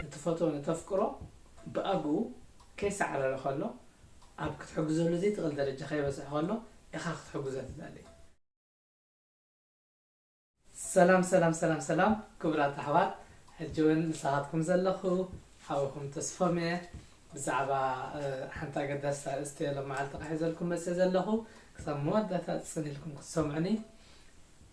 እትፈትዎ እተፍቅሮ ብኣግኡ ከይሰዓረረ ከሎ ኣብ ክትሕግዘሉ ዘይትኽእል ደረጃ ከይበጽሐ ከሎ ኢኻ ክትሕግዞ ትደሊ። ሰላም ሰላም ሰላም ሰላም ክቡራት ኣሕዋት ሕጂ ውን ምሳኻትኩም ዘለኹ ሓውኹም ተስፎም እየ ብዛዕባ ሓንቲ ኣገዳሲት ኣርእስቲ እየ ሎማዓልቲ ክሕዘልኩም መፅእ ዘለኹ ክሳብ መወዳእታ ፅን ኢልኩም ክትሰምዑኒ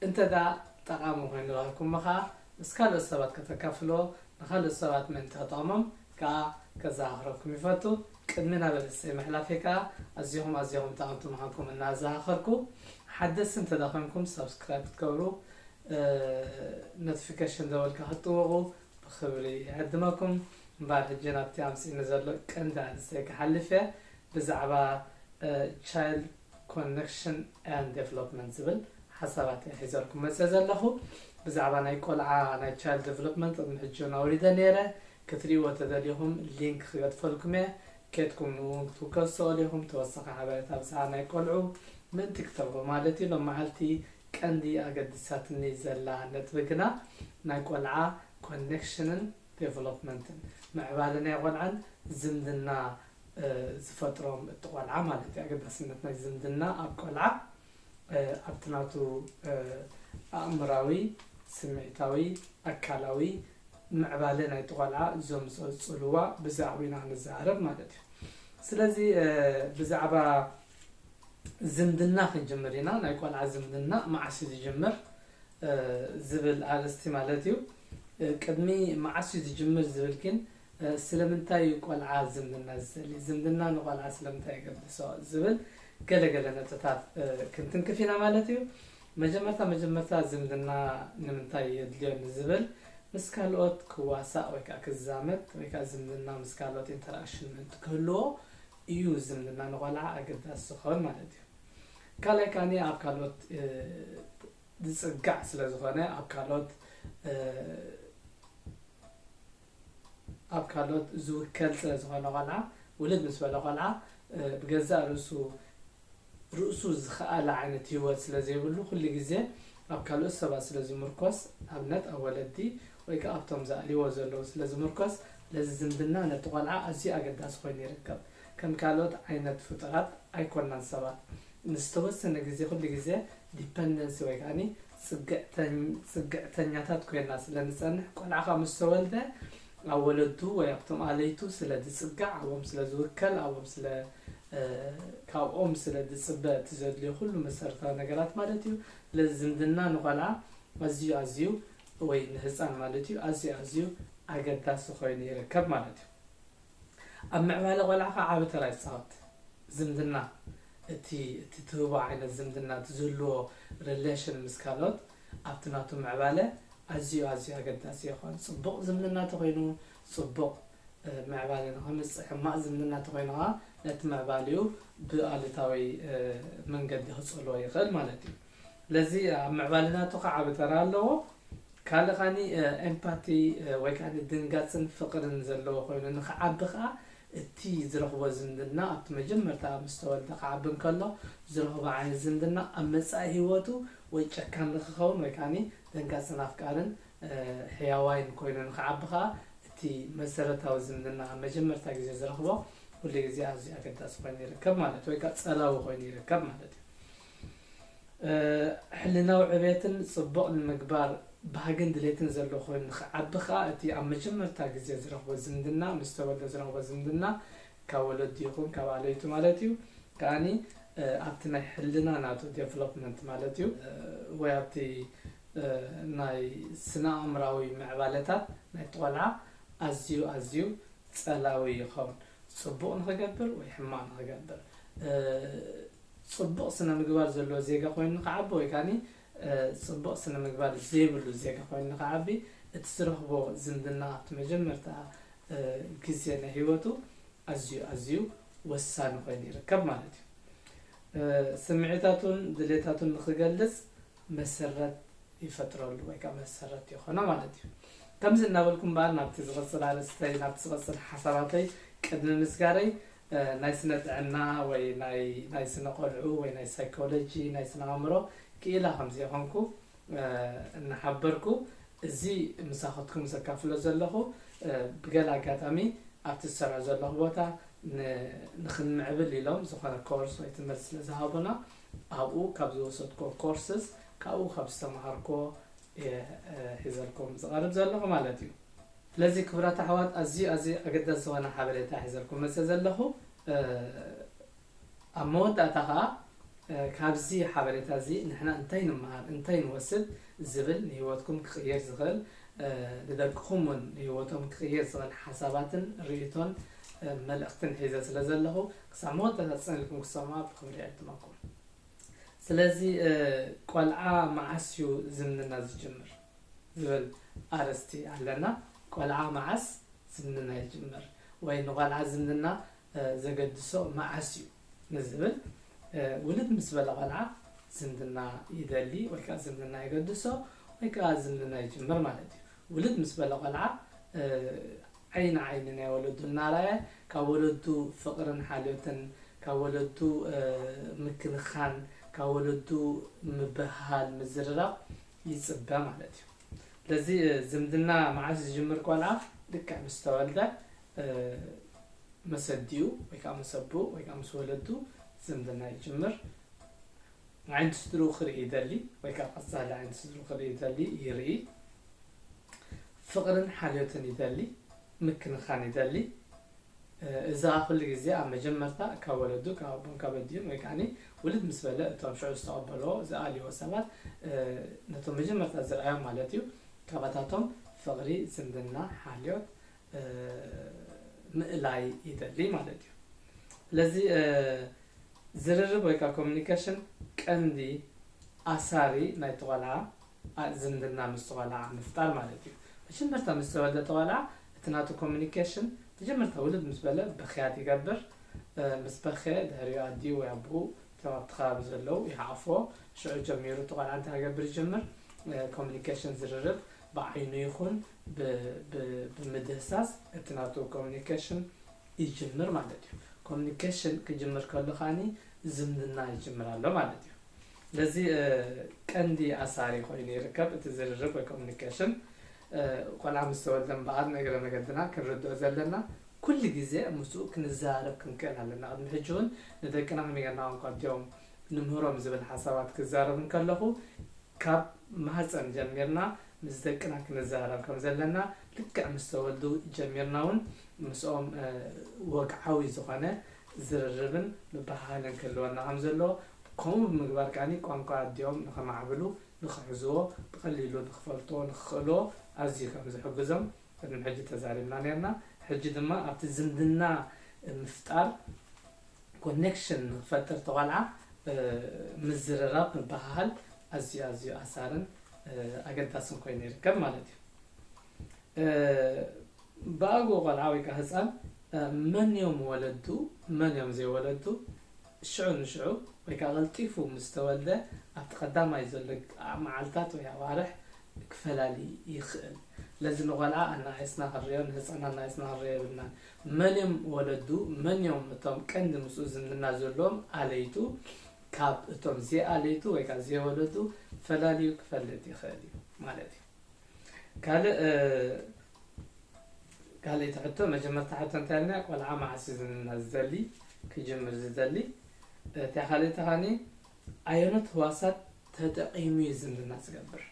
እንተ ደኣ ጠቓሚ ኮይኑ ረኽብኩሞ ከዓ ምስ ካልኦት ሰባት ከተካፍልዎ ንካልኦት ሰባት ምእንቲ ክጠቕሞም ከዓ ከዘኻኽረኩም ይፈቱ ቅድሚ ናብ ርእስይ ምሕላፈይ ከኣ ኣዚኹም ኣዚኹም ጠቐምቲ ምኻንኩም እናኣዛኻኸርኩ ሓደስቲ እንተድኣ ኮንኩም ሳብስክራይብ ክትገብሩ ኖትፊከሽን ደወል ከኣ ክትጥውቑ ብኽብሪ ይዕድመኩም። እምበኣር ሕጂ ናብቲ ኣምጺእኒ ዘሎ ቀንዲ ኣርእስተይ ክሓልፍ እየ ብዛዕባ ቻይልድ ኮነክሽን ኣንድ ደቨሎፕመንት ዝብል ሓሳባት እየ ሒዘልኩም መጺኤ ዘለኹ። ብዛዕባ ናይ ቆልዓ ናይ ቻይልድ ደቨሎፕመንት ቅድሚ ሕጂ እውን ኣውሪደ ነይረ ክትሪእዎ ተደሊኹም ሊንክ ክገድፈልኩም እየ ኬድኩም ንእውን ክትውከሱ ትኸእሉ ኢኹም ተወሳኺ ሓበሬታ ብዛዕባ ናይ ቆልዑ ምእንቲ ክትረኽቡ ማለት እዩ ሎማዓልቲ ቀንዲ ኣገዲሳትኒ ዘላ ነጥቢ ግና ናይ ቆልዓ ኮኔክሽንን ዴቨሎፕመንትን ምዕባለ ናይ ቆልዓን ዝምድና ዝፈጥሮም እቲ ቆልዓ ማለት እዩ ኣገዳስነት ናይ ዝምድና ኣብ ቆልዓ ኣብቲ ናቱ ኣእምራዊ፣ ስምዒታዊ፣ ኣካላዊ ምዕባለ ናይቲ ቆልዓ ዘምጽኦ ጽልዋ ብዛዕብኡ ኢና ንዛረብ ማለት እዩ። ስለዚ ብዛዕባ ዝምድና ክንጅምር ኢና፣ ናይ ቆልዓ ዝምድና መዓስ እዩ ዝጅምር ዝብል ኣርእስቲ ማለት እዩ። ቅድሚ መዓስ እዩ ዝጅምር ዝብል ግን ስለምንታይ እዩ ቆልዓ ዝምድና ዝደሊ? ዝምድና ንቆልዓ ስለምንታይ የገድሶ? ዝብል ገለ ገለ ነጥብታት ክንትንክፍ ኢና ማለት እዩ። መጀመርታ መጀመርታ ዝምድና ንምንታይ የድልዮ ንዝብል ምስ ካልኦት ክዋሳእ ወይ ከዓ ክዛመድ ወይ ከዓ ዝምድና ምስ ካልኦት ኢንተራክሽን ምእንቲ ክህልዎ እዩ ዝምድና ንቆልዓ ኣገዳሲ ዝኸውን ማለት እዩ። ካልኣይ ከዓኒ ኣብ ካልኦት ዝፅጋዕ ስለዝኾነ ኣብ ካልኦት ኣብ ካልኦት ዝውከል ስለ ዝኾነ ቆልዓ ውልድ ምስ በለ ቆልዓ ብገዛእ ርእሱ ርእሱ ዝኸኣለ ዓይነት ሂወት ስለ ዘይብሉ ኩሉ ግዜ ኣብ ካልኦት ሰባት ስለ ዝምርኮስ ኣብነት ኣብ ወለዲ ወይ ከኣ ኣብቶም ዝኣልይዎ ዘለዉ ስለ ዝምርኮስ ለዚ ዝምድና ነቲ ቆልዓ ኣዝዩ ኣገዳሲ ኮይኑ ይርከብ ከም ካልኦት ዓይነት ፍጡራት ኣይኮናን ሰባት ንዝተወሰነ ግዜ ኩሉ ግዜ ዲፐንደንሲ ወይ ከኣ ጽግዕተኛታት ኮይና ስለ ንጸንሕ፣ ቆልዓኻ ምስ ተወልደ ኣብ ወለዱ ወይ ኣብቶም ኣለይቱ ስለ ዝጽጋዕ፣ ኣብኦም ስለ ዝውከል፣ ኣብኦም ስለ ካብኦም ስለ ዝጽበ እቲ ዘድልዮ ኩሉ መሰረታዊ ነገራት ማለት እዩ። ስለዚ ዝምድና ንቆልዓ ኣዝዩ ኣዝዩ ወይ ንህጻን ማለት እዩ ኣዝዩ ኣዝዩ ኣገዳሲ ኮይኑ ይርከብ ማለት እዩ። ኣብ ምዕባለ ቆልዓኻ ዓቢ ተራ ይጻወት። ዝምድና፣ እቲ እቲ ትህቦ ዓይነት ዝምድና እቲ ዝህልዎ relation ምስ ካልኦት ኣብቲ ናቱ ምዕባለ ኣዝዩ ኣዝዩ ኣገዳሲ ይኾን። ጽቡቕ ዝምድና ተኾይኑ ጽቡቕ ምዕባለ ንኸምጽእ ሕማቕ ዝምድና ተኾይኑ ከኣ ነቲ ምዕባሊኡ ብኣሉታዊ መንገዲ ክጸልዎ ይኽእል ማለት እዩ። ስለዚ ኣብ ምዕባለ ናቱ ከኣ ዓቢ ተራ ኣለዎ። ካልእ ከኣ ኤምፓቲ ወይ ከኣ ድንጋጽን ፍቕርን ዘለዎ ኮይኑ ንኽዓቢ ከኣ እቲ ዝረኽቦ ዝምድና ኣብቲ መጀመርታ ምስ ተወልደ ክዓቢ እንከሎ ዝረኽቦ ዓይነት ዝምድና ኣብ መጻኢ ህይወቱ ወይ ጨካን ንኽኸውን ወይ ከኣ ደንጋጽን ኣፍቃርን ሕያዋይን ኮይኑ ንኽዓቢ ከኣ እቲ መሰረታዊ ዝምድና ኣብ መጀመርታ ግዜ ዝረኽቦ ኩሉ ግዜ ኣዝዩ ኣገዳሲ ኮይኑ ይርከብ ማለት ወይ ከኣ ጸላዊ ኮይኑ ይርከብ ማለት እዩ። ሕልናዊ ዕቤትን ጽቡቕ ንምግባር ባህግን ድሌትን ዘሎ ኮይኑ ንኽዓቢ ከኣ እቲ ኣብ መጀመርታ ግዜ ዝረኽቦ ዝምድና ምስ ተወልደ ዝረኽቦ ዝምድና ካብ ወለዱ ይኹን ካብ ኣለይቱ ማለት እዩ ከኣ ኣብቲ ናይ ሕልና ናቱ ዴቨሎፕመንት ማለት እዩ ወይ ኣብቲ ናይ ስነ-ኣእምራዊ ምዕባለታት ናይቲ ቆልዓ ኣዝዩ ኣዝዩ ጸላዊ ይኸውን ጽቡቕ ንኽገብር ወይ ሕማቕ ንኽገብር። ጽቡቕ ስነ ምግባር ዘለዎ ዜጋ ኮይኑ ንኽዓቢ ወይ ከኣ ጽቡቕ ስነ ምግባር ዘይብሉ ዜጋ ኮይኑ ንኽዓቢ እቲ ዝረኽቦ ዝምድና ኣብቲ መጀመርታ ግዜ ናይ ህይወቱ ኣዝዩ ኣዝዩ ወሳኒ ኮይኑ ይርከብ ማለት እዩ። ስምዒታቱን ድሌታቱን ንኽገልጽ መሰረት ይፈጥረሉ ወይ ከኣ መሰረት ይኾኖ ማለት እዩ። ከምዚ እናበልኩ እምበኣር ናብቲ ዝቕጽል ኣርእስተይ ናብቲ ዝቕጽል ሓሳባተይ ቅድሚ ምስጋረይ ናይ ስነ ጥዕና ወይ ናይ ናይ ስነ ቆልዑ ወይ ናይ ሳይኮሎጂ ናይ ስነ ኣእምሮ ክኢላ ከም ዘይኮንኩ እናሓበርኩ እዚ ምሳኹትኩም ዘካፍሎ ዘለኹ ብገለ ኣጋጣሚ ኣብቲ ዝሰርሖ ዘለኹ ቦታ ን ንኽንምዕብል ኢሎም ዝኾነ ኮርስ ወይ ትምህርቲ ስለ ዝሃቡና ኣብኡ ካብ ዝወሰድክዎ ኮርስስ ካብኡ ካብ ዝተማሃርክዎ እየ ሒዘልኩም ዝቐርብ ዘለኹ ማለት እዩ። ስለዚ ክቡራት ኣሕዋት ኣዝዩ ኣዝዩ ኣገዳሲ ዝኾነ ሓበሬታ ሒዘልኩም መጸ ዘለኹ ኣብ መወዳእታ ከኣ ካብዚ ሓበሬታ እዚ ንሕና እንታይ ንምሃር እንታይ ንወስድ ዝብል ንህይወትኩም ክቕይር ዝኽእል ንደቅኹም እውን ንህይወቶም ክቕይር ዝኽእል ሓሳባትን ርእቶን መልእኽትን ሒዘ ስለ ዘለኹ ክሳብ መወዳእታ ጽንኢልኩም ክሰምዖ ብኽብሪ ዕድመኩም ስለዚ ቆልዓ መዓስ እዩ ዝምድና ዝጅምር ዝብል ኣርእስቲ ኣለና። ቆልዓ መዓስ ዝምድና ይጅምር ወይ ንቆልዓ ዝምድና ዘገድሶ መዓስ እዩ ንዝብል ውልድ ምስ በለ ቆልዓ ዝምድና ይደሊ ወይ ከኣ ዝምድና የገድሶ ወይ ከኣ ዝምድና ይጅምር ማለት እዩ። ውልድ ምስ በለ ቆልዓ ዓይኒ ንዓይኒ ናይ ወለዱ እናረኣየ ካብ ወለዱ ፍቕርን ሓልዮትን፣ ካብ ወለዱ ምክንኻን፣ ካብ ወለዱ ምብህሃል፣ ምዝርራብ ይፅበ ማለት እዩ። ስለዚ ዝምድና መዓስ ዝጅምር ቆልዓ ልክዕ ምስ ተወልደ መሰዲኡ ወይ ከዓ መሰብኡ ወይ ከዓ ምስ ወለዱ ዝምድና ይጅምር። ዓይነቱ ስድርኡ ክርኢ ይደሊ ወይ ከኣ ቀጻሊ ዓይነቱ ስድርኡ ክርኢ ይደሊ፣ ይርኢ። ፍቕርን ሓልዮትን ይደሊ፣ ምክንኻን ይደሊ። እዚ ከኣ ኩሉ ግዜ ኣብ መጀመርታ ካብ ወለዱ ካብ ኣቦን ካብ ኣዲኡን ወይ ከኣ ውልድ ምስ በለ እቶም ሽዑ ዝተቐበልዎ ዝኣልይዎ ሰባት ነቶም መጀመርታ ዝርኣዮም ማለት እዩ ካባታቶም ፍቕሪ፣ ዝምድና፣ ሓልዮት፣ ምእላይ ይደሊ ማለት እዩ ስለዚ ዝርርብ ወይ ከዓ ኮሚኒኬሽን ቀንዲ ኣሳሪ ናይቲ ቆልዓ ዝምድና ምስ ቆልዓ ምፍጣር ማለት እዩ መጀመርታ ምስ ተወልደ ተቆልዓ እቲ ናቱ ኮሚኒኬሽን መጀመርታ ውልድ ምስ በለ በክያት ይገብር ምስ በኸ ድሕሪኡ ኣዲኡ ወይ ኣቦኡ እቶም ኣብቲ ከባቢ ዘለዉ ይሓቕፍዎ ሽዑ ጀሚሩ እቲ ቆልዓ እንታይ ክገብር ይጀምር ኮሚኒኬሽን ዝርርብ ብዓይኑ ይኹን ብምድህሳስ እቲ ናቱ ኮሙኒኬሽን ይጅምር ማለት እዩ። ኮሙኒኬሽን ክጅምር ከሎ ከኣ ዝምድና ይጅምር ኣሎ ማለት እዩ። ስለዚ ቀንዲ ኣሳሪ ኮይኑ ይርከብ እቲ ዝርርብ ወይ ኮሙኒኬሽን። ቆልዓ ምስ ተወልደ እምበኣር ንእግረ መገድና ክንርድኦ ዘለና ኩሉ ግዜ ምስኡ ክንዘራረብ ክንክእል ኣለና። ቅድሚ ሕጂ እውን ንደቅና ከመይ ጌርና ቋንቋ ኣዲኦም ንምህሮም ዝብል ሓሳባት ክዛረብ እንከለኹ ካብ ማህጸን ጀሚርና ምስ ደቅና ክንዛረብ ከም ዘለና ልክዕ ምስ ተወልዱ ጀሚርና ውን ምስኦም ወግዓዊ ዝኾነ ዝርርብን ምብህሃልን ክህልወና ከም ዘለዎ ከምኡ ብምግባር ከኣ ቋንቋ ኣዲኦም ንኸማዕብሉ ንኽሕዝዎ ብቐሊሉ ንኽፈልጥዎ ንኽኽእልዎ ኣዝዩ ከም ዝሕግዞም ቅድሚ ሕጂ ተዛሪብና ኔርና ሕጂ ድማ ኣብቲ ዝምድና ምፍጣር ኮኔክሽን ንክፈጥር ተቆልዓ ምዝርራብ ምብሃሃል ኣዝዩ ኣዝዩ ኣሳርን ኣገዳስን ኮይኑ ይርከብ ማለት እዩ። ብኣግኡ ቆልዓ ወይ ከዓ ህፃን መን እዮም ወለዱ መን እዮም ዘይወለዱ ሽዑ ንሽዑ ወይ ከዓ ቀልጢፉ ምስ ተወልደ ኣብቲ ቀዳማይ ዘሎ መዓልታት ወይ ኣዋርሕ ክፈላሊ ይኽእል። ለዚ ንቆልዓ ኣናኣእስና ክንሪኦ ንህፃን ኣናኣእስና ክንሪኦ የብልናን። መን'ዮም ወለዱ? መን'ዮም እቶም ቀንዲ ምስኡ ዝምድና ዘለዎም ኣለይቱ? ካብ እቶም ዘይኣለይቱ ወይ ከኣ ዘይወለዱ ፈላልዩ ክፈልጥ ይኽእል እዩ ማለት እዩ። ካልእ ካልኣይቲ ሕቶ፣ መጀመርታ ሕቶ እንታይ ኢልና ቆልዓ መዓስ እዩ ዝምድና ዝደሊ ክጅምር ዝደሊ? እታ ካልኣይቲ ከኣ ኣየኖት ህዋሳት ተጠቒሙ እዩ ዝምድና ዝገብር።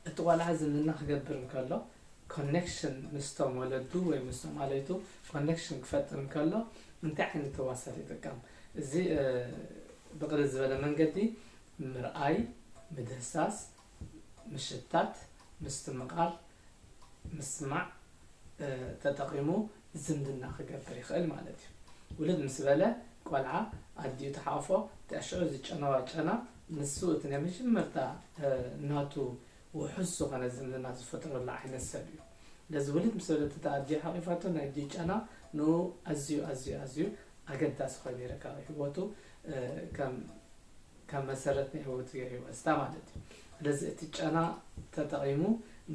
እቲ ቆልዓ ዝምድና ክገብር እንከሎ ኮኔክሽን ምስቶም ወለዱ ወይ ምስቶም ኣለይቱ ኮኔክሽን ክፈጥር እንከሎ እንታይ ዓይነት ህዋሳት ይጥቀም? እዚ ብቕልል ዝበለ መንገዲ ምርኣይ፣ ምድህሳስ፣ ምሽታት፣ ምስትምቓር፣ ምስማዕ ተጠቒሙ ዝምድና ክገብር ይኽእል ማለት እዩ። ውልድ ምስ በለ ቆልዓ ኣዲኡ ትሓቑፎ ድሕሪ ሽዑ እዚ ጨናዋ ጨና ንሱ እቲ ናይ መጀመርታ ናቱ ውሑስ ዝኾነ ዝምድና ዝፈጥረሉ ዓይነት ሰብ እዩ። ስለዚ ውልድ ምስ በለት እታ ኣዲኡ ሓቒፋቶ ናይ ኣዲኡ ጨና ንኡ ኣዝዩ ኣዝዩ ኣዝዩ ኣገዳሲ ኮይኑ ይርከብ ኣብ ሂወቱ ከም ከም መሰረት ናይ ህይወቱ ገይርዎ እስታ ማለት እዩ። ስለዚ እቲ ጨና ተጠቒሙ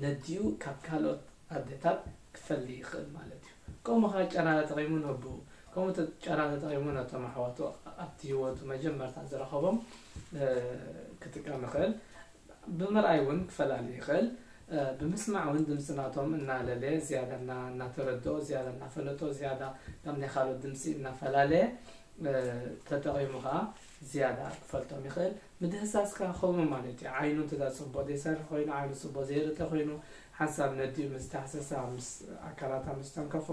ነዲኡ ካብ ካልኦት ኣዴታት ክፈሊ ይኽእል ማለት እዩ። ከምኡ ከኣ ጨና ተጠቒሙ ነቡኡ ከምኡ ጨና ተጠቒሙ ነቶም ኣሕዋቱ ኣብቲ ህይወቱ መጀመርታ ዝረኸቦም ክጥቀም ይኽእል። ብምርኣይ እውን ክፈላሊ ይኽእል። ብምስማዕ እውን ድምፂ ናቶም እናለለየ ዝያዳ እናተረድኦ ዝያዳ እናፈለጦ ዝያዳ ካብ ናይ ካልኦት ድምፂ እናፈላለየ ተጠቒሙ ከኣ ዝያዳ ክፈልጦም ይኽእል ምድህሳስካ ከምኡ ማለት እዩ ዓይኑ እንተ ጽቡቅ ዘይሰርሕ ኮይኑ ዓይኑ ጽቡቅ ዘይርተ ኮይኑ ሓንሳብ ነዲኡ ምስ ዳህሰሳ ምስ ኣካላታ ምስ ተንከፎ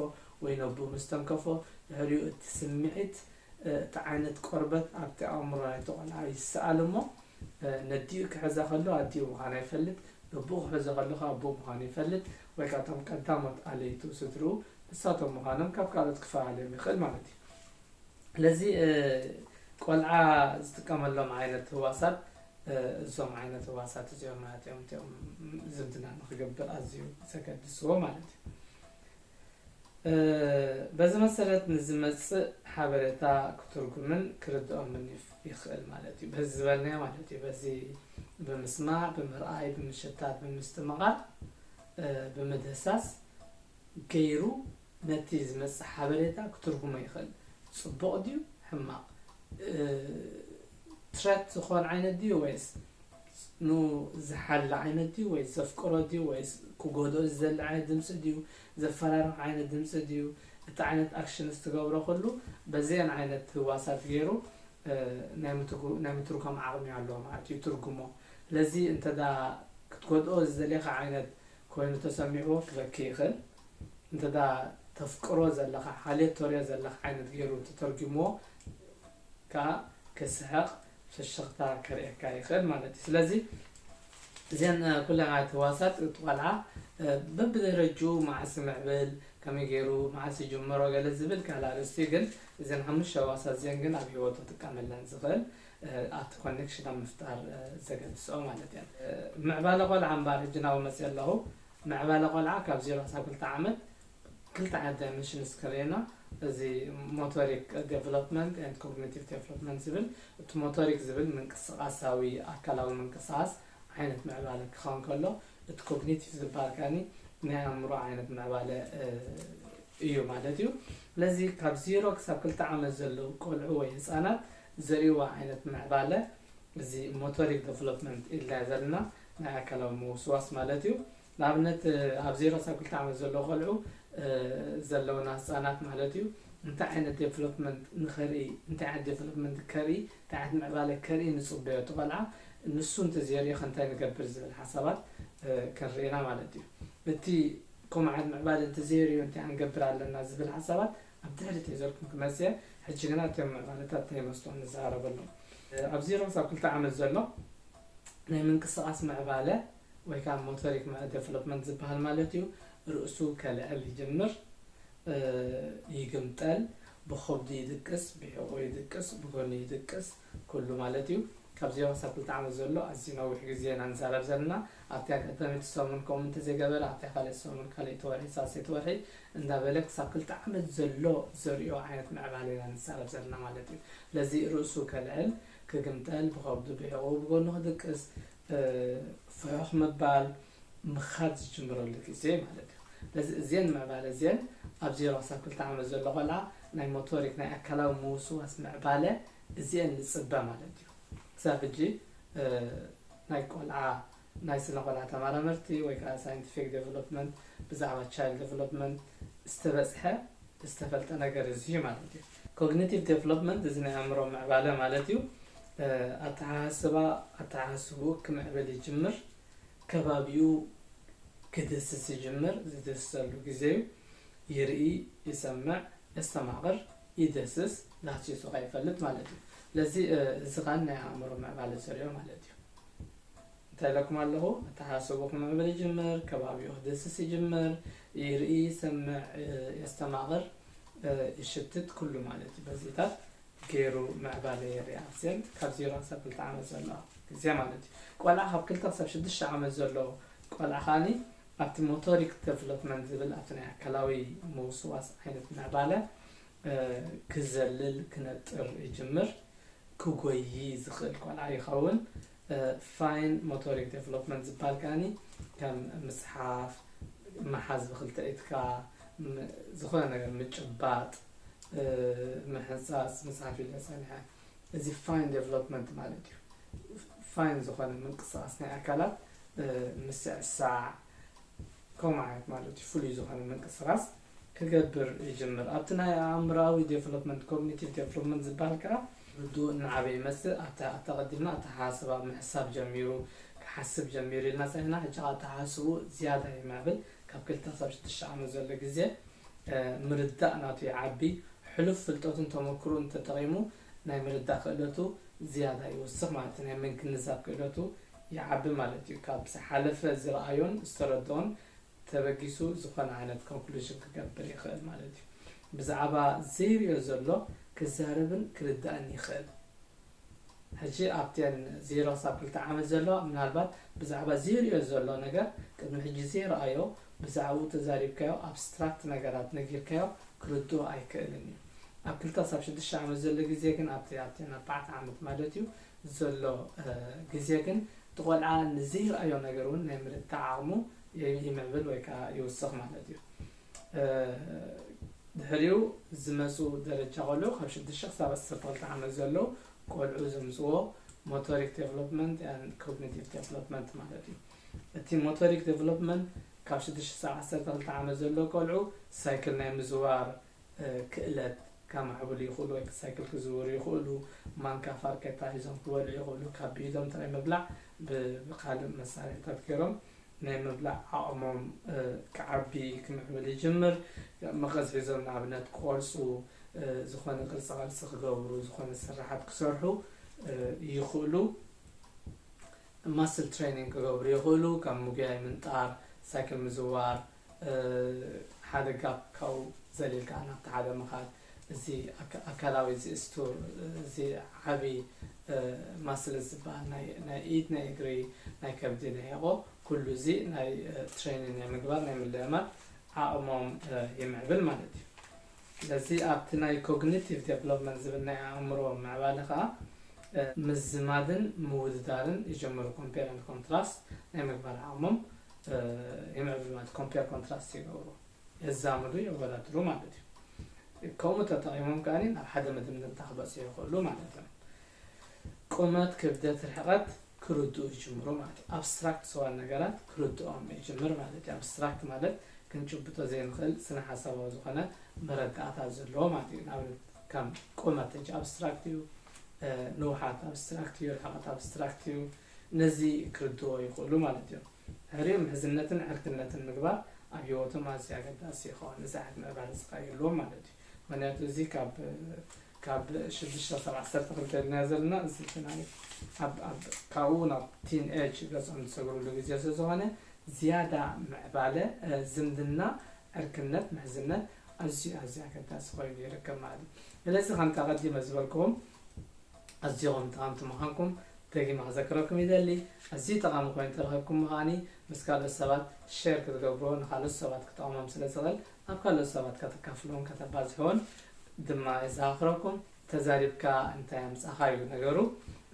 ወይ ነቡኡ ምስ ተንከፎ ድሕሪኡ እቲ ስምዒት እቲ ዓይነት ቆርበት ኣብቲ ኣእምሮ ናይቲ ቆልዓ ይሰኣል እሞ ነዲኡ ክሕዛ ከሎ ኣዲኡ ምዃና ይፈልጥ ነቡኡ ክሕዞ ከሎ ከኣ ኣቡኡ ምዃኑ ይፈልጥ ወይ ከኣ እቶም ቀዳሞት ኣለይቱ ስድርኡ ንሳቶም ምዃኖም ካብ ካልኦት ክፈላልዮም ይኽእል ማለት እዩ። ስለዚ ቆልዓ ዝጥቀመሎም ዓይነት ህዋሳት እዞም ዓይነት ህዋሳት እዚኦም ማለት እዮም እቲኦም ዝምድና ንክገብር ኣዝዩ ዘገድስዎ ማለት እዩ በዚ መሰረት ንዝመፅእ ሓበሬታ ክትርጉምን ክርድኦምን ይኽእል ማለት እዩ በዚ ዝበልናዮ ማለት እዩ በዚ ብምስማዕ ብምርኣይ ብምሸታት ብምስትምቓር ብምድህሳስ ገይሩ ነቲ ዝመጽእ ሓበሬታ ክትርጉሞ ይኽእል ጽቡቕ ድዩ ሕማቕ ትረት ዝኾን ዓይነት ድዩ ወይስ ን ዝሓሊ ዓይነት ድዩ ወይስ ዘፍቅሮ ድዩ ወይስ ክጎድኦ ዝደሊ ዓይነት ድምጺ ድዩ ዘፈራርሕ ዓይነት ድምጺ ድዩ እቲ ዓይነት ኣክሽንስ ትገብሮ ኩሉ በዘን ዓይነት ህዋሳት ጌሩ ናይ ምትርጓም ዓቕሚ ኣለዎ ማለት እዩ ይትርጉሞ ስለዚ እንተ ክትጎድኦ ዝደልኻ ዓይነት ኮይኑ ተሰሚዕዎ ክበኪ ይኽእል እንተ ተፍቅሮ ዘለኻ ሓልዮት ተርእዮ ዘለኻ ዓይነት ጌሩ እንተተርጉምዎ ከኣ ክስሕቕ ፍሽኽታ ከርእየካ ይኽእል ማለት እዩ ስለዚ እዘን ኩለን ዓይነት ህዋሳት እቲ ቆልዓ በብደረጅኡ መዓስ ይምዕብል ከመይ ገይሩ መዓስ ይጅምሮ ገለ ዝብል ካልእ ኣርእስቲ እዩ ግን እዘን ሓሙሽተ ህዋሳት እዚአን ግን ኣብ ሂወቱ ክጥቀመለን ዝኽእል ኣብቲ ኮኔክሽን ኣብ ምፍጣር ዘገድስኦ ማለት እየን ምዕባለ ቆልዓ እምበኣር ሕጂ ናብኡ መፅእ ኣለኹ ምዕባለ ቆልዓ ካብ ዜሮ ክሳብ ክልተ ዓመት ክልተ ዓይነት ዳይመንሽንስ ከርእየና እዚ ሞቶሪክ ዴቨሎፕመንት ኤንድ ኮግኒቲቭ ዴቨሎፕመንት ዝብል እቲ ሞቶሪክ ዝብል ምንቅስቓሳዊ ኣካላዊ ምንቅስቓስ ዓይነት ምዕባለ ክኸውን ከሎ እቲ ኮግኒቲቭ ዝበሃል ከኣኒ ናይ ኣእምሮ ዓይነት ምዕባለ እዩ ማለት እዩ ስለዚ ካብ ዜሮ ክሳብ ክልተ ዓመት ዘለዉ ቆልዑ ወይ ህፃናት ዘርእይዎ ዓይነት ምዕባለ እዚ ሞቶሪክ ዴቨሎፕመንት ኢልና ዘለና ናይ ኣካላዊ ምውስዋስ ማለት እዩ። ንኣብነት ኣብ ዜሮ ክሳብ ክልተ ዓመት ዘለዉ ቆልዑ ዘለዉና ህፃናት ማለት እዩ እንታይ ዓይነት ዴቨሎፕመንት ንኸርኢ እንታይ ዓይነት ዴቨሎፕመንት ከርኢ እንታይ ዓይነት ምዕባለ ከርኢ ንፅበዮ እቲ ቆልዓ ንሱ እንተዘይሪኦ ከ እንታይ ንገብር ዝብል ሓሳባት ክንርኢ ኢና ማለት እዩ። እቲ ከምኡ ዓይነት ምዕባለ እንተዘይሪኡ እንታይ ክንገብር ኣለና ዝብል ሓሳባት ኣብ ትሕቲ ተይዘልኩም ክመጽእ እየ ሕጂ ግና እቶም መቓልታት ናይ መስትዋት ንዛረበሎም። ኣብ ዜሮ ክሳብ ክልተ ዓመት ዘሎ ናይ ምንቅስቓስ ምዕባለ ወይ ከኣ ሞተሪክ ደቨሎፕመንት ዝበሃል ማለት እዩ ርእሱ ከልዕል ይጅምር፣ ይግምጠል፣ ብኸብዱ ይድቅስ፣ ብሕቖኡ ይድቅስ፣ ብጎኒ ይድቅስ፣ ኩሉ ማለት እዩ ካብ ዜሮ ክሳብ ክልተ ዓመት ዘሎ ኣዝዩ ነዊሕ ግዜ ኢና ንዛረብ ዘለና ኣብቲ ኣጋጣሚ እቲ ሰሙን ከምኡ እንተዘይገበረ ኣብታ ካልኣይቲ ሰሙን ካልኣይቲ ወርሒ ሳልሰይቲ ወርሒ እንዳበለ ክሳብ ክልተ ዓመት ዘሎ ዘርእዮ ዓይነት ምዕባለ ኢና ንዛረብ ዘለና ማለት እዩ ስለዚ ርእሱ ከልዕል ክግምጠል ብኸብዱ ብሕቝኡ ብጎኑ ክድቅስ ፍሑኽ ምባል፣ ምኻድ ዝጅምረሉ ግዜ ማለት እዩ። ስለዚ እዜን ምዕባለ እዜን ኣብ ዜሮ ክሳብ ክልተ ዓመት ዘሎ ቆልዓ ናይ ሞቶሪክ ናይ ኣካላዊ ምውስዋስ ምዕባለ እዜን ንጽበ ማለት እዩ። ክሳብ ሕጂ ናይ ቆልዓ ናይ ስነ ቆልዓ ተማራመርቲ ወይ ከዓ ሳይንቲፊክ ዴቨሎፕመንት ብዛዕባ ቻይልድ ዴቨሎፕመንት ዝተበጽሐ ዝተፈልጠ ነገር እዚ እዩ ማለት እዩ። ኮግኒቲቭ ዴቨሎፕመንት እዚ ናይ ኣእምሮ ምዕባለ ማለት እዩ። ኣተሓሳስባ ኣተሓሳስብኡ ክምዕብል ይጅምር፣ ከባቢኡ ክድህስስ ይጅምር፣ ዝድህስሰሉ ግዜ እዩ። ይርኢ፣ ይሰምዕ፣ የስተማቕር፣ ይድህስስ፣ ዳህሲሱ ከይፈልጥ ማለት እዩ። ስለዚ እዚ ከኣ ናይ ኣእምሮ ምዕባለ ዘርእዮ ማለት እዩ። እንታይ ኢለኩም ኣለኹ ኣተሓሳስብኹም ምዕብል ይጅምር ከባቢኡ ክድህስስ ይጅምር ይርኢ ይሰምዕ የስተማቕር ይሽትት ኩሉ ማለት እዩ በዚታት ገይሩ ምዕባለ የርኢ ኣብዘንት ካብ ዜሮ ክሳብ ክልተ ዓመት ዘለዋ ግዜ ማለት እዩ ቆልዓ ካብ ክልተ ክሳብ ሽዱሽተ ዓመት ዘሎ ቆልዓ ከዓኒ ኣብቲ ሞቶሪክ ደቨሎፕመንት ዝብል ኣብቲ ናይ ኣካላዊ ምውስዋስ ዓይነት ምዕባለ ክዘልል ክነጥር ይጅምር፣ ክጎዪ ዝኽእል ቆልዓ ይኸውን፣ ፋይን ሞቶሪክ ደቨሎፕመንት ዝብሃል ከኣኒ ከም ምጽሓፍ፣ ምሓዝ ብኽልተ ኢድካ፣ ዝኾነ ነገር ምጭባጥ፣ ምሕንጻጽ፣ ምጽሓፍ ኢለ ጸኒሐ፣ እዚ ፋይን ደቨሎፕመንት ማለት እዩ፣ ፋይን ዝኾነ ምንቅስቓስ ናይ ኣካላት ምስዕሳዕ ከምኡ ዓይነት ማለት እዩ፣ ፍሉይ ዝኾነ ምንቅስቓስ። ክገብር ይጅምር። ኣብቲ ናይ ኣእምሮኣዊ ዴቨሎፕመንት፣ ኮግኒቲቭ ዴቨሎፕመንት፣ ዝበሃል ከኣ ወዱ እናዓበየ ይመጽእ። ኣብቲ ኣተቐዲምና ኣተሓሳስባ ምሕሳብ ጀሚሩ፣ ክሓስብ ጀሚሩ ኢልና ጸኒሕና፣ ሕጂ ከኣ ኣተሓሳስብኡ ዝያዳ ይማዕብል። ካብ ክልተ ክሳብ ሽዱሽተ ዓመት ዘሎ ግዜ ምርዳእ ናቱ ይዓቢ። ሕሉፍ ፍልጠቱን ተመኩሮኡን ተጠቒሙ ናይ ምርዳእ ክእለቱ ዝያዳ ይውስኽ ማለት እዩ። ናይ ምግንዛብ ክእለቱ ይዓቢ ማለት እዩ። ካብ ዝሓለፈ ዝረኣዮን ዝተረድኦን ተበጊሱ ዝኾነ ዓይነት ኮንክሉዥን ክገብር ይኽእል ማለት እዩ። ብዛዕባ ዘይሪኦ ዘሎ ክዛረብን ክርዳእን ይኽእል። ሕጂ ኣብተን ዜሮ ክሳብ ክልተ ዓመት ዘለዋ ምናልባት ብዛዕባ ዘይሪኦ ዘሎ ነገር ቅድሚ ሕጂ ዘይረኣዮ ብዛዕብኡ ተዛሪብካዮ ኣብስትራክት ነገራት ነጊርካዮ ክርድኦ ኣይክእልን እዩ። ኣብ ክልተ ክሳብ ሽዱሽተ ዓመት ዘሎ ግዜ ግን ኣብቲ ኣብተን ኣርባዕተ ዓመት ማለት እዩ ዘሎ ግዜ ግን እቲ ቆልዓ ንዘይረኣዮ ነገር እውን ናይ ምርዳእ ዓቕሙ ይምዕብል ወይ ከኣ ይውስኽ ማለት እዩ። ድሕሪኡ ዝመጹ ደረጃ ቆልዑ ካብ ሽዱሽተ ክሳብ ዓሰርተ ክልተ ዓመት ዘለዉ ቆልዑ ዘምጽዎ ሞቶሪክ ዴቨሎፕመንት ን ኮግኒቲቭ ዴቨሎፕመንት ማለት እዩ። እቲ ሞቶሪክ ዴቨሎፕመንት ካብ ሽዱሽተ ክሳብ ዓሰርተ ክልተ ዓመት ዘለዉ ቆልዑ ሳይክል ናይ ምዝዋር ክእለት ከማዕብሉ ይኽእሉ ወይ ሳይክል ክዝውሩ ይኽእሉ፣ ማንካ ፋርኬታ ሒዞም ክበልዑ ይኽእሉ፣ ካብ ብኢዶም ጥራይ ምብላዕ ብካልእ መሳርሒታት ገይሮም ናይ ምብላዕ ዓቕሞም ክዓቢ ክምዕብል ይጅምር፣ መቐስ ሒዞም ንኣብነት ክቖርጹ፣ ዝኾነ ቅርጻ ቅርጺ ክገብሩ፣ ዝኾነ ስርሓት ክሰርሑ ይኽእሉ፣ ማስል ትሬኒንግ ክገብሩ ይኽእሉ፣ ከም ምጉያይ፣ ምንጣር፣ ሳይክል ምዝዋር፣ ሓደ ጋፕ ካብኡ ዘሊልካ ናብቲ ሓደ ምኻድ እዚ ኣካላዊ ዝእስቱ እዚ ዓቢ ማስልስ ዝበሃል ናይ ኢድ ናይ እግሪ ናይ ከብዲ ናይ ሕቆ ኩሉ እዚ ናይ ትሬኒን ናይ ምግባር ናይ ምልእማድ ዓቕሞም ይምዕብል ማለት እዩ ስለዚ ኣብቲ ናይ ኮግኒቲቭ ዴቨሎፕመንት ዝብል ናይ ኣእምሮ ምዕባለ ከዓ ምዝማድን ምውድዳርን ይጀምሩ ኮምፔር ኮንትራስት ናይ ምግባር ዓቕሞም ይምዕብሉ ማለት ኮምፔር ኮንትራስት ይገብሩ የዛምዱ የወዳድሩ ማለት እዩ ከምኡ ተጠቒሞም ከኣ ናብ ሓደ መደምደምታ ክበፅሑ ይኽእሉ ማለት እዮም ቁመት ክብደት ርሕቐት ክርድኡ ይጅምሩ ማለት እዩ ኣብስትራክት ዝዋን ነገራት ክርድኦም ይጅምር ማለት እዩ ኣብስትራክት ማለት ክንጭብጦ ዘይንኽእል ስነ ሓሳባዊ ዝኾነ መረዳእታ ዘለዎ ማለት እዩ ንኣብነት ከም ቁመት ኣብስትራክት እዩ ንውሓት ኣብስትራክት እዩ ርሕቐት ኣብስትራክት እዩ ነዚ ክርድኦ ይኽእሉ ማለት እዮም። ድሕሪኡ ምሕዝነትን ዕርክነትን ምግባር ኣብ ህይወቶም ኣዝዩ ኣገዳሲ ይኸውን። እዚ ዓቕሚ ምዕባለ እዚ ከኣ ይህልዎም ማለት እዩ። ምኽንያቱ እዚ ካብ ካብ ሽዱሽተ ክሳብ ዓሰርተ ክልተ ድና ዘለና እዚ እቲ ናይ ኣብ ኣብ ካብኡ ናብ ቲን ኤጅ ገጾም ዝሰግርሉ ግዜ ስለዝኾነ ዝያዳ ምዕባለ ዝምድና ዕርክነት ምሕዝነት ኣዝዩ ኣዝዩ ኣገዳሲ ኮይኑ ይርከብ ማለት እዩ። ስለዚ ከምቲ ኣቐዲመ ዝበልክዎም ኣዚኹም ጠቐምቲ ምዃንኩም ደጊመ ክዘክረኩም ይደሊ። ኣዝዩ ጠቓሚ ኮይኑ እንተረኺብኩሞ ከኣ ምስ ካልኦት ሰባት ሼር ክትገብርዎ ንካልኦት ሰባት ክጠቕሞም ስለ ዝኽእል ኣብ ካልኦት ሰባት ከተካፍልዎን ከተባዝሕዎን ድማ የዘኻኽረኩም። ተዛሪብካ እንታይ ኣምጻኻ እዩ ነገሩ።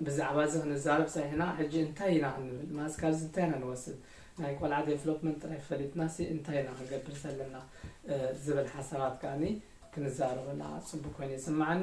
ብዛዕባ እዚ ክንዛረብ ጸኒሕና ሕጂ እንታይ ኢና ክንብል ማለት ካብዚ እንታይ ኢና ንወስድ ናይ ቆልዓ ዴቨሎፕመንት ጥራይ ፈሊጥናሲ እንታይ ኢና ክንገብር ዘለና ዝብል ሓሳባት ከኣ ክንዛረበላ ጽቡቕ ኮይኑ ይስምዓኒ።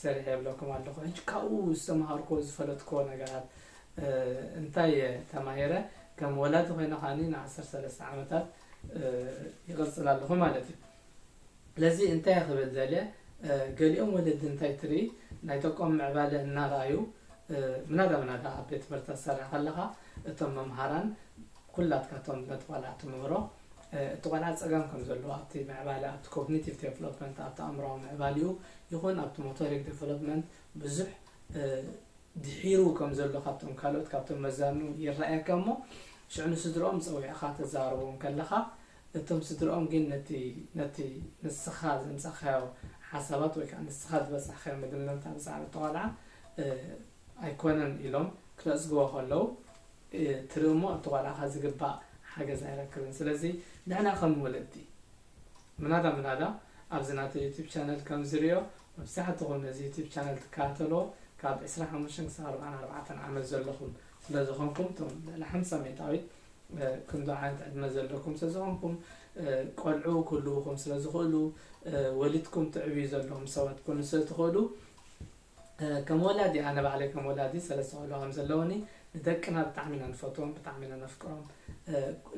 ሰሪሐ እብለኩም ኣለኹ ሕጂ ካብኡ ዝተማሃርኩዎ ዝፈለጥኩዎ ነገራት እንታይ እየ ተማሂረ ከም ወላዲ ኮይነ ከዓኒ ን ዓሰርተ ሰለስተ ዓመታት ይቅጽል ኣለኹ ማለት እዩ ስለዚ እንታይ እየ ክብል ደልየ ገሊኦም ወለዲ እንታይ ትርኢ ናይ ደቆም ምዕባለ እናረኣዩ ምናዳ ምናዳ ኣብ ቤት ትምህርቲ ክትሰርሕ ከለኻ እቶም መምሃራን ኩላትካ እቶም ነቲ ቆልዓ ትምህሮ እቲ ቆልዓ ጸገም ከም ዘለዎ ኣብቲ ምዕባለ ኣብቲ ኮግኒቲቭ ደቨሎፕመንት ኣብቲ ኣእምሮኣዊ ምዕባሊኡ ይኹን ኣብቲ ሞቶሪክ ደቨሎፕመንት ብዙሕ ድሒሩ ከም ዘሎ ካብቶም ካልኦት ካብቶም መዛኑ ይረኣየካ እሞ ሽዑ ንስድርኦም ጸዊዕኻ ተዛርቦም ከለኻ እቶም ስድርኦም ግን ነቲ ነቲ ንስኻ ዘምጻኻዮ ሓሳባት ወይ ከዓ ንስኻ ዝበጻሕካዮ መደምደምታ ብዛዕባ እቲ ቆልዓ ኣይኮነን ኢሎም ክነጽግዎ ከለዉ ትርኢ እሞ ኣብቲ ቆልዓኻ ዝግባእ ሓገዝ ኣይረክብን ስለዚ ንሕና ከም ወለዲ ምናዳ ምናዳ ኣብዚ ናተይ ዩቱብ ቻነል ከም ዝርኦ መብዛሕትኹም ነዚ ዩቱብ ቻነል ትከታተልዎ ካብ ዕስራን ሓሙሽተን ክሳብ ኣርብዓን ኣርባዕተን ዓመት ዘለኹም ስለ ዝኾንኩም እቶም ልዕሊ ሓምሳ ሚእታዊት ክንዶ ዓይነት ዕድመ ዘለኩም ስለ ዝኾንኩም ቆልዑ ክህልውኹም ስለ ዝኽእሉ ወሊድኩም ትዕብዩ ዘለኹም ሰባት ኩኑ ስለ ትኽእሉ ከም ወላዲ ኣነ ባዕለይ ከም ወላዲ ሰለስተ ቆልዑ ከም ዘለዉኒ ንደቅና ብጣዕሚ ኢና ንፈትዎም ብጣዕሚ ኢና ነፍቅሮም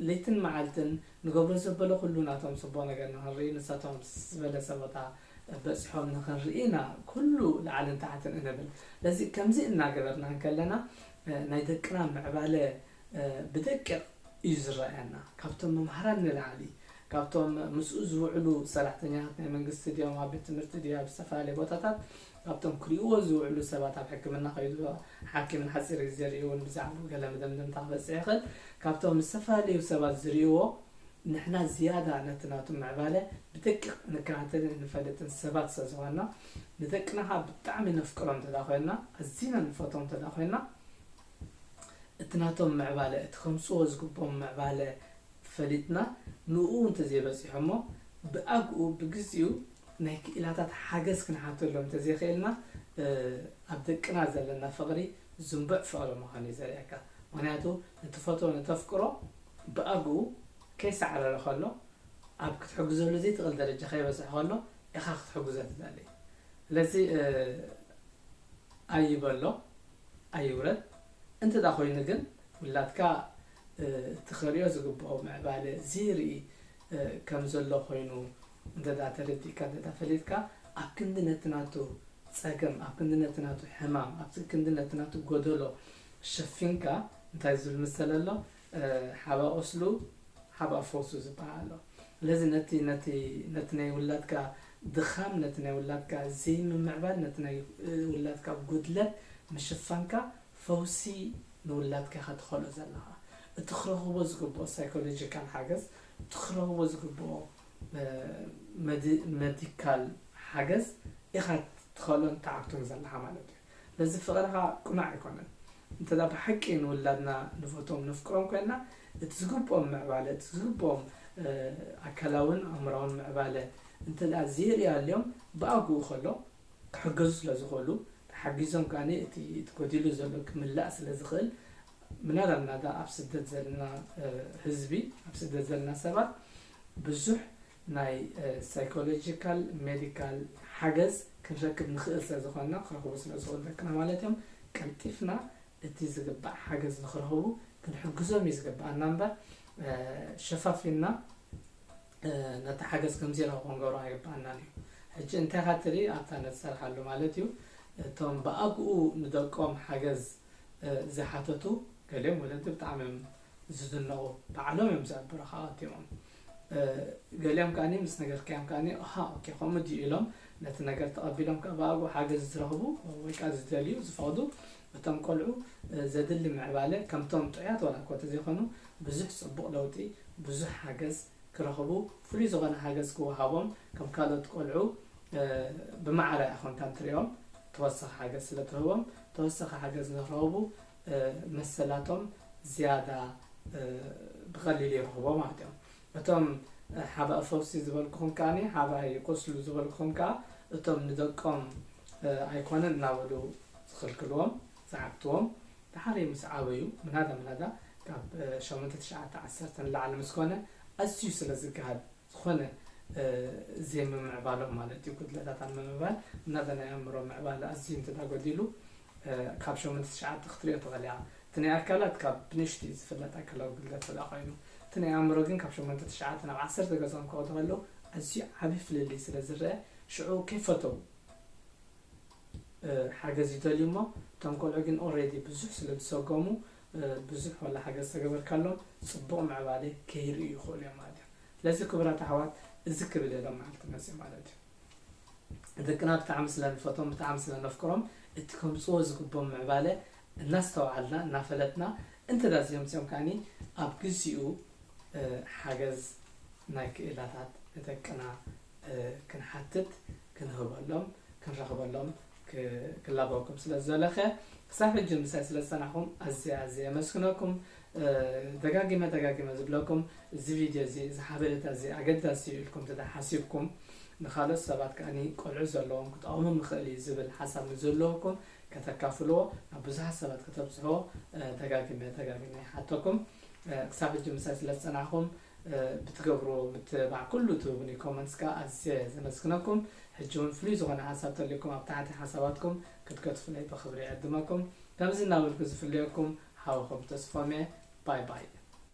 ለይትን መዓልትን ንገብሮ ዘበለ ኩሉ ናቶም ጽቡቕ ነገር ንኽንርኢ ንሳቶም ኣብ ዝበለጸ ቦታ በጺሖም ንኽንርኢ ኢና ኩሉ ላዕልን ታሕትን እንብል ለዚ ከምዚ እናገበርና እንከለና ናይ ደቅና ምዕባለ ብደቂቕ እዩ ዝረኣየና ካብቶም መምሃራን ንላዕሊ ካብቶም ምስኡ ዝውዕሉ ሰራሕተኛታት ናይ መንግስቲ ድዮም ኣብ ቤት ትምህርቲ ድዮ ኣብ ዝተፈላለየ ቦታታት ካብቶም ክሪእዎ ዝውዕሉ ሰባት ኣብ ሕክምና ከይዱ ሓኪም ንሓፂር ግዜ ርእይውን ብዛዕባ ገለ መደምደምታ ክበፅሕ ይኽእል ካብቶም ዝተፈላለዩ ሰባት ዝርእይዎ ንሕና ዝያዳ ነቲ ናቱ ምዕባለ ብደቂቕ ንከታተልን ንፈልጥን ሰባት ስለ ዝኾንና ንደቅና ከዓ ብጣዕሚ ነፍቅሮም እንተዳ ኮይንና ኣዚና ንፈትዎም እንተዳ ኮይንና እቲ ናቶም ምዕባለ እቲ ከምጽዎ ዝግብኦም ምዕባለ ፈሊጥና ንኡኡ እንተዘይበጺሖሞ ብኣግኡ ብግዚኡ ናይ ክኢላታት ሓገዝ ክንሓተሎም እንተዘይክኢልና ኣብ ደቅና ዘለና ፍቕሪ ዝንቡዕ ፍቕሪ ምዃኑ እዩ ዘርእየካ ምኽንያቱ ንትፈትዎ ንተፍቅሮ ብኣግኡ ከይሳዕረረ ከሎ ኣብ ክትሕግዘሉ ዘይትኽእል ደረጃ ከይበጽሐ ከሎ ኢኻ ክትሕግዞ ትደሊ ስለዚ ኣይበሎ ኣይውረድ እንተ ድኣ ኮይኑ ግን ውላድካ እቲ ክርእዮ ዝግብኦ ምዕባለ ዝይርኢ ከም ዘሎ ኮይኑ እንተ ድኣ ተረዲእካ እንተ ድኣ ፈሊጥካ ኣብ ክንዲ ነቲ ናቱ ጸገም ኣብ ክንዲ ነቲ ናቱ ሕማም ኣብ ክንዲ ነቲ ናቱ ጎደሎ ሸፊንካ እንታይ ዝብል ምሰለ ኣሎ ሓባ ቁስሉ ሓባ ፈውሱ ዝበሃል ኣሎ። ስለዚ ነቲ ነቲ ነቲ ናይ ውላድካ ድኻም፣ ነቲ ናይ ውላድካ ዘይምምዕባል፣ ነቲ ናይ ውላድካ ጉድለት ምሽፋንካ ፈውሲ ንውላድካ ኢኻ ትኸልኦ ዘለኻ። እቲ ክረኽቦ ዝግብኦ ሳይኮሎጂካል ሓገዝ፣ እቲ ክረኽቦ ዝግብኦ መዲካል ሓገዝ ኢኻ ትኸልኦን ትዓግቶን ዘለኻ ማለት እዩ። ስለዚ ፍቕርኻ ቅኑዕ ኣይኮነን። እንተ ብሓቂ ንውላድና ንፈትዎም ነፍቅሮም ኮይንና እቲ ዝግብኦም ምዕባለ እቲ ዝግብኦም ኣካላውን ኣእምራውን ምዕባለ እንተ ዘይርእዩ ኣልዮም ብኣግኡ ከሎ ክሕገዙ ስለ ዝኽእሉ ተሓጊዞም ከኣ እቲ ጎዲሉ ዘሎ ክምላእ ስለ ዝኽእል ምናዳ ምናዳ ኣብ ስደት ዘለና ህዝቢ ኣብ ስደት ዘለና ሰባት ብዙሕ ናይ ሳይኮሎጂካል ሜዲካል ሓገዝ ክንረክብ ንኽእል ስለ ዝኾንና ክረኽቡ ስለ ዝኽእሉ ደቅና ማለት እዮም ቀልጢፍና እቲ ዝግባእ ሓገዝ ንኽረኽቡ ክንሕግዞም እዩ ዝግብኣና እምበር ሸፋፊንና ነቲ ሓገዝ ከም ዘይረኽቡ ክንገብሮ ኣይግብኣናን እዩ ሕጂ እንታይ ኢኻ ትርኢ ኣብታ ንዝሰርሓሉ ማለት እዩ እቶም ብኣግኡ ንደቆም ሓገዝ ዝሓተቱ ገሊኦም ወለዲ ብጣዕሚ እዮም ዝድነቑ ባዕሎም እዮም እዚኣ በረኻ ኣትዮም ገሊኦም ከኣ ምስ ነገርካዮም ከኣ ኣሃ ኦኬ ከምኡ ድዩ ኢሎም ነቲ ነገር ተቐቢሎም ከኣ ብኣግኡ ሓገዝ ዝረኽቡ ወይ ከኣ ዝደልዩ ዝፈቕዱ እቶም ቆልዑ ዘድሊ ምዕባለ ከምቶም ጥዑያት ዋላ እኳ እንተዘይኮኑ ብዙሕ ጽቡቕ ለውጢ ብዙሕ ሓገዝ ክረኽቡ ፍሉይ ዝኾነ ሓገዝ ክወሃቦም ከም ካልኦት ቆልዑ ብማዕረ ኮንካ እንትሪኦም ተወሳኺ ሓገዝ ስለ ትህቦም ተወሳኺ ሓገዝ ንክረኽቡ መሰላቶም ዝያዳ ብቐሊሉ ይረኽቦ ማለት እዮም። እቶም ሓባእ ፈውሲ ዝበልኩኹም ከኣ ሓባእ ይቆስሉ ዝበልኩኹም ከኣ እቶም ንደቆም ኣይኮነን እናበሉ ዝኽልክልዎም ዝዓግትዎም ድሓር ምስ ዓበዩ ምናዳ ምናዳ ካብ ሸሞንተ ትሽዓተ ዓሰርተ ንላዕሊ ምስ ኮነ ኣዝዩ ስለ ዝገሃድ ዝኾነ ዜምምዕባሎም ማለት እዩ ጉድለታት ኣብ ምምዕባል እናተ ናይ ኣእምሮ ምዕባለ ኣዝዩ እንተ ጎዲሉ ካብ ሸሞንተ ትሽዓተ ክትሪኦ ትኽእል ኢኻ እቲ ናይ ኣካላት ካብ ብንእሽቱ እዩ ዝፍለጥ ኣካላዊ ጉድለት እንተ ኮይኑ እቲ ናይ ኣእምሮ ግን ካብ ሸሞንተ ትሽዓተ ናብ ዓሰርተ ገጾም ክወዱ ከለዉ ኣዝዩ ዓቢ ፍልልይ ስለ ዝረኣ ሽዑ ከይፈተዉ ሓገዝ ይደልዩ እሞ እቶም ቆልዑ ግን ኦሬዲ ብዙሕ ስለ ዝሰጎሙ ብዙሕ ዋላ ሓገዝ ተገበርካሎም ጽቡቕ ምዕባሌ ከይርእዩ ይኽእሉ እዮም ማለት እዩ። ስለዚ ክቡራት ኣሕዋት እዚ ክብል እየ ሎም መዓልቲ መጺኡ ማለት እዩ። ደቅና ብጣዕሚ ስለ ንፈቶም ብጣዕሚ ስለ ነፍቅሮም እቲ ከምጽዎ ዝግቦም ምዕባለ እናስተውዓልና እናፈለጥና እንተዳ እዚኦም እዚኦም ከዓኒ ኣብ ግዚኡ ሓገዝ ናይ ክእላታት ንደቅና ክንሓትት ክንህበሎም ክንረኽበሎም ክላበወኩም ስለ ዝደለከ ክሳብ ሕጂ ምሳይ ስለ ዝጸናሕኩም ኣዝየ ኣዝየ የመስግነኩም ደጋጊመ ደጋጊመ ዝብለኩም እዚ ቪድዮ እዚ እዚ ሓበሬታ እዚ ኣገዳሲ እዩ ኢልኩም እንተ ሓሲብኩም ንካልኦት ሰባት ከኣኒ ቆልዑ ዘለዎም ክጠቕሞም ይኽእል እዩ ዝብል ሓሳብ ንዘለወኩም ከተካፍልዎ ናብ ብዙሓት ሰባት ከተብጽሕዎ ደጋጊመ ደጋጊመ ይሓተኩም ክሳብ ሕጂ ምሳይ ስለ ዝጸናሕኩም ብትገብርዎ ምትብባዕ ኩሉ ትህቡኒ ኮመንትስ ከኣ ኣዝየ ዘመስግነኩም ሕጂ ውን ፍሉይ ዝኾነ ሓሳብ ተልዩኩም ኣብ ታሕቲ ሓሳባትኩም ክትገድፉለይ ብኽብሪ ይዕድመኩም ከምዚ እናበልኩ ዝፍለየኩም ሓውኹም ተስፎምየ ባይ ባይ።